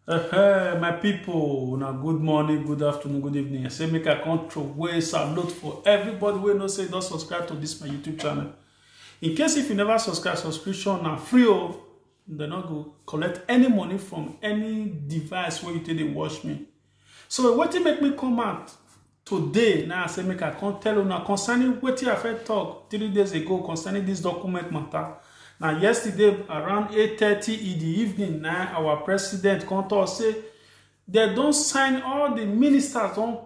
Hey, my people, una good morning, good afternoon, good evening. I say make I come throw way salute for everybody wey no say don subscribe to this my YouTube channel. In case if you never subscribe, subscription na free o. Dem no go collect any money from any device wey you take dey watch me. So wetin make me come out Today na I say make I come tell una concerning wetin I first talk three days ago concerning this document matter. Na yesterday around 8:30 in the evening na our president come talk say dem don sign all the ministers don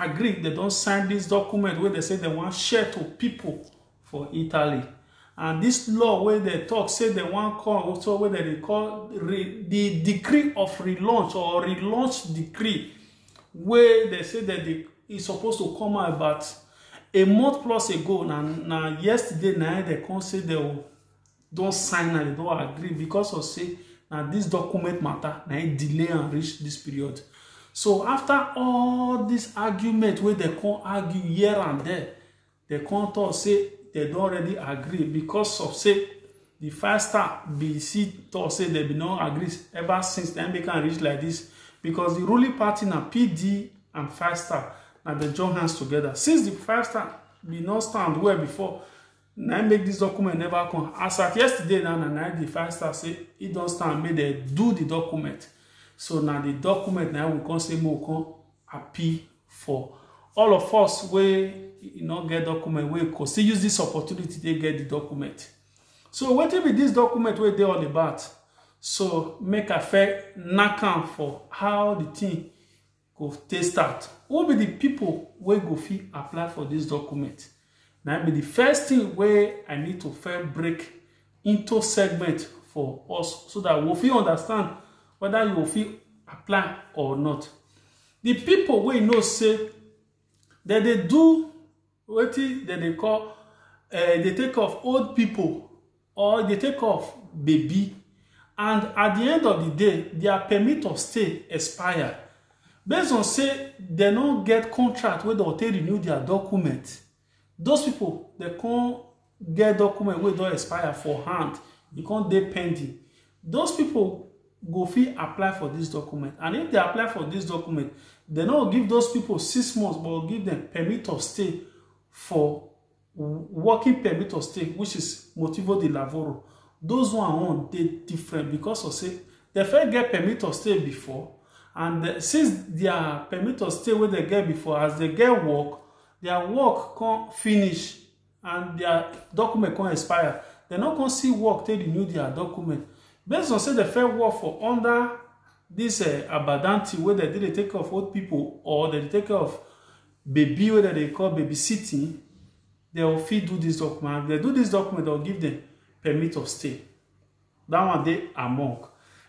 agree dem don sign this document wey dem say dem wan share to people for italy and this law wey dem talk say dem wan come also wey dem dey call re, the decree of relaunch or relaunch decree wey dem say dem dey e suppose to come out about a month plus ago na na yesterday na im dem come say dem don sign am dem don agree because of say na this document matter na im delay am reach this period so after all this argument wey dem come argue here and there Dem come talk say dem don already agree because of say the five star be see talk say dem be no agree ever since dem make am reach like this because the ruling party na PD and five star na dem join hands together since the five star be no stand well before na make this document never come as at yesterday na na the five star say he don stand make dem do the document so na the document na we come say make we come appeal for all of us wey e no get document wey go still use this opportunity take get the document so wetin be this document wey dey all about so make i fair knack am for how the thing go take start who be the people wey go fit apply for this document Na be the first thing wey I need to first break into segment for us so that we fit understand whether you go fit apply or not. The people wey know say dem dey do wetin dem dey call uh, dey take of old people or e dey take off baby and at the end of the day their permit of stay expire based on say dem no get contract wey don take renew their document those people dem come get document wey don expire for hand e come dey pending those people go fit apply for this document and if they apply for this document dem no go give those people six months but go give them permit of stay for working permit of stay which is motivo de lavoro those one own dey different because of say dem first get permit of stay before and eh, since their permit of stay wey dem get before as dem get work their work come finish and their document come expire dem no come see work take renew their document based on say dem first work for under this uh, abadanti wey dem dey take care of old people or dem dey take care of Baby wey dem dey call baby sitting, dem go fit do this document. If dem do this document, dem go give them permit of stay. That one dey among.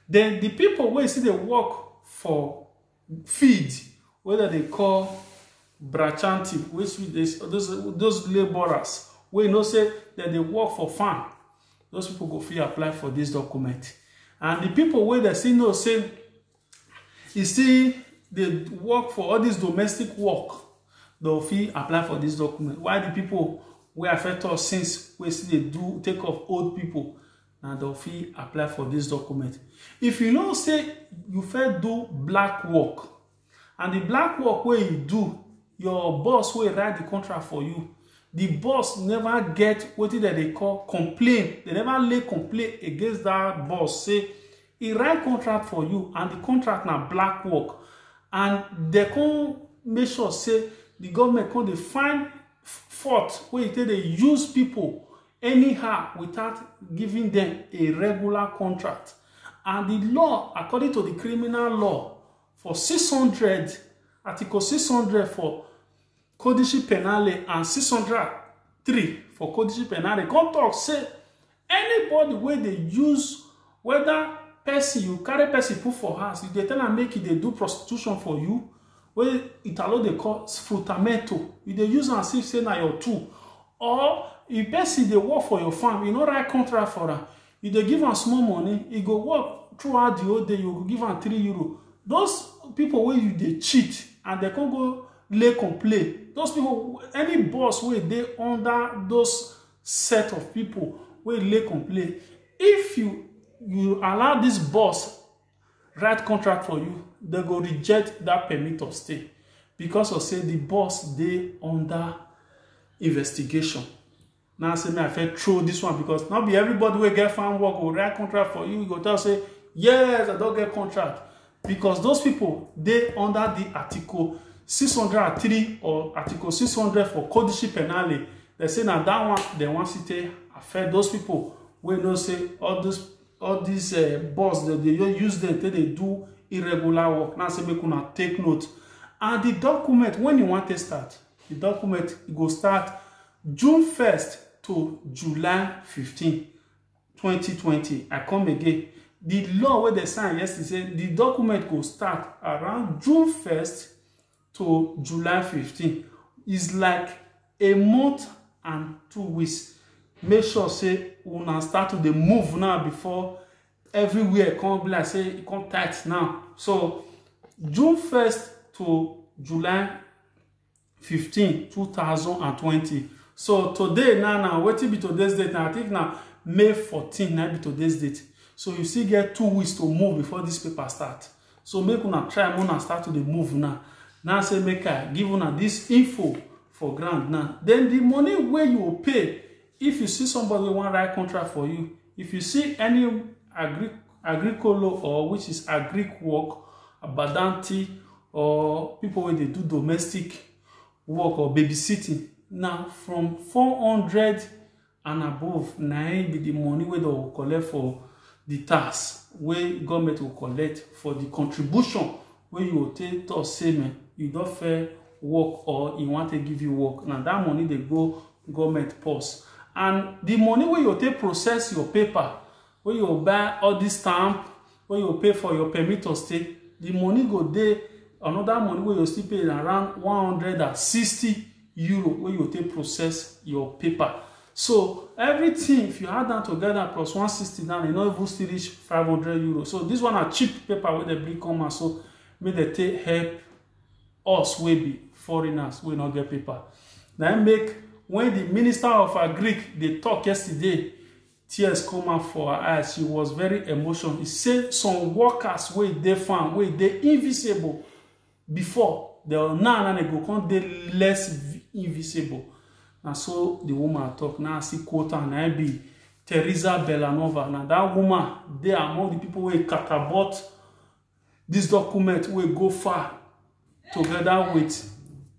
Then the people wey still dey work for field wey dem dey call brachanti, which is those those labourers wey you know say dem dey work for farm, those people go fit apply for this document. And the people wey dem still know say e still dey work for all dis domestic work dem fit apply for dis document while di pipo wey affect us since wey still dey do take of old pipo na dem fit apply for dis document if you know say you fit do black work and di black work wey you do your boss wey write di contract for you di boss never get wetin dem dey call complain dem never lay complain against dat boss say e write contract for you and the contract na black work and dem come make sure say the government come dey find fault wey e take dey use people anyhow without giving them a regular contract and the law according to the criminal law for 600 article 600 for Codice Penale and 603 for Codice Penale come talk say anybody wey dey use whether person you carry person put for house you dey tell am make e dey do prostitution for you wey italo dey call sfrutamento you dey use am see say na your tool or if person dey work for your farm you no write contract for am you dey give am small money e go work throughout the whole day you go give am three euro those people wey you dey cheat and dem come go lay complain those people any boss wey dey under those set of people wey lay complain if you you allow this boss write contract for you dem go reject that permit of stay because of say the boss dey under investigation Now say me I fit throw this one because not be everybody will get farm work or write contract for you. You go tell say yes I don't get contract because those people they under the article 603 or article 600 for codice penale they say now that one they want to take affect those people We know say all this all these uh, boss that they use them till they do irregular work now say make una take note and the document when you want to start the document go start June first to July fifteen, twenty twenty, I come again. The law wey dem sign yesterday say the document go start around June first to July fifteen. It's like a month and two weeks. Make sure say una start to dey move now before everywhere come be like say e come tight now. So June first to July 15 2020 so today now now wetin be today's date na i think na may 14 na be today's date so you still get two weeks to move before this paper start so make una try make una start to dey move now now say make i give una this info for ground now then the money wey you go pay If you see somebody wey wan write contract for you, if you see any agri agricolo or which is agric work, abadanti or people wey dey do domestic work or babysitting, na from four hundred and above na im be the money wey dem go collect for the tax wey government go collect for the contribution wey you go take talk say me you don fair work or e wan take give you work na that money dey go government purse and the money wey you take process your paper wey you buy all this stamp wey you pay for your permit to stay the money go dey another money wey you still pay around one hundred and sixty euro wey you go take process your paper so everything if you add am together plus 160 now e no even still reach 500 euro so this one na cheap paper wey dem bring come out so make dem take help us wey be foreigners wey no get paper na im make when the minister of agric dey talk yesterday tears come out for her eyes she was very emotional e say some workers wey dey farm wey dey invisible before the now na dem go come dey less vi- invisible na so the woman talk na i see quote am na im be teresa belanova na that woman dey among the people wey catapult this document wey go far together with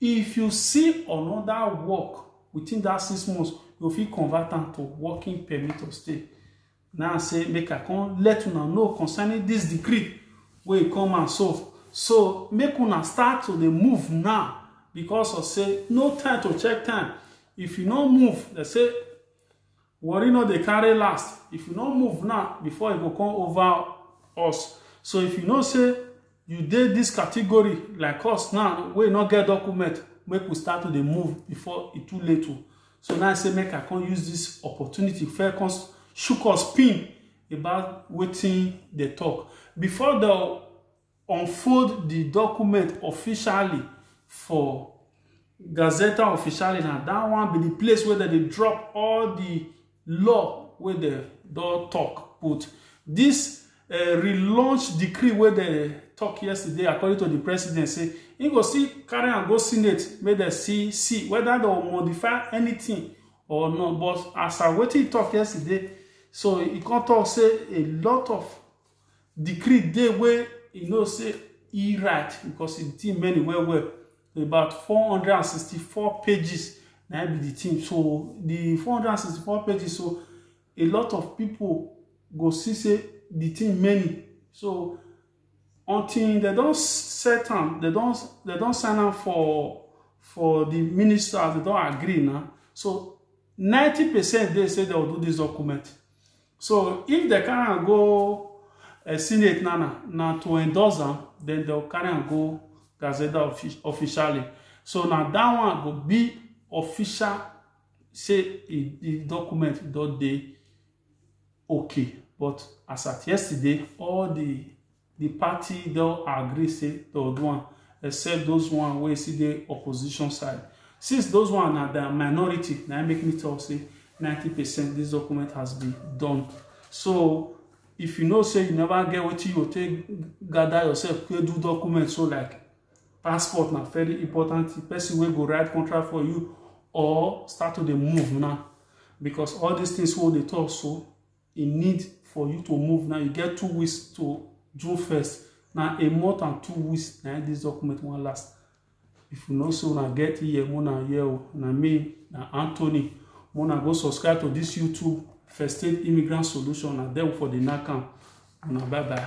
If you see another work within that six months, you fit convert am to working permit to stay. Now say make I come let una know concerning this decree wey come and so. So make una start to dey move now because of say no time to check time. If you no move, they say Worry no dey carry last. If you no move now, before e go come over us. So if you know say you dey this category like us now wey no get document, make we start to dey move before e too late o. So now I say make I come use this opportunity first come shook us pin about wetin dey talk. Before the unfold di document officially for Gazeta Officiale na dat one be di place wey dem dey drop all di law wey dem don tok put. Dis um relaunch decree wey dem tok yesterday according to di president say im go still carry am go senate make dem see see whether dem modify anything or not but as at wetin e tok yesterday so e come tok say a lot of decree dey wey e know say e write because the thing many well well about 464 pages na be the thing so the 464 pages so a lot of people go see say the thing many so until they don set am they don they don sign am for for the ministers they don agree na so 90 percent dey say they will do this document So if dem carry am go uh, Senate now, now to endorse am, then they'll carry am go Gazette offic officially. So now that one go be official say e the document don dey okay but as at yesterday all the The party don agree say they'll do one, except those one where see the opposition side. Since those one are the minority, now make me tell say 90% this document has been done. So if you know say you never get what you take gather yourself, go do document so like passport na very important the person wey go write contract for you or start to dey move now because all these things wey dey talk so e need for you to move now you get two weeks to june first na a month and two weeks na this document wan last if you know say una get here una here o na me na anthony una go subscribe to this youtube first aid immigrant solution na there for the nakam una bye bye.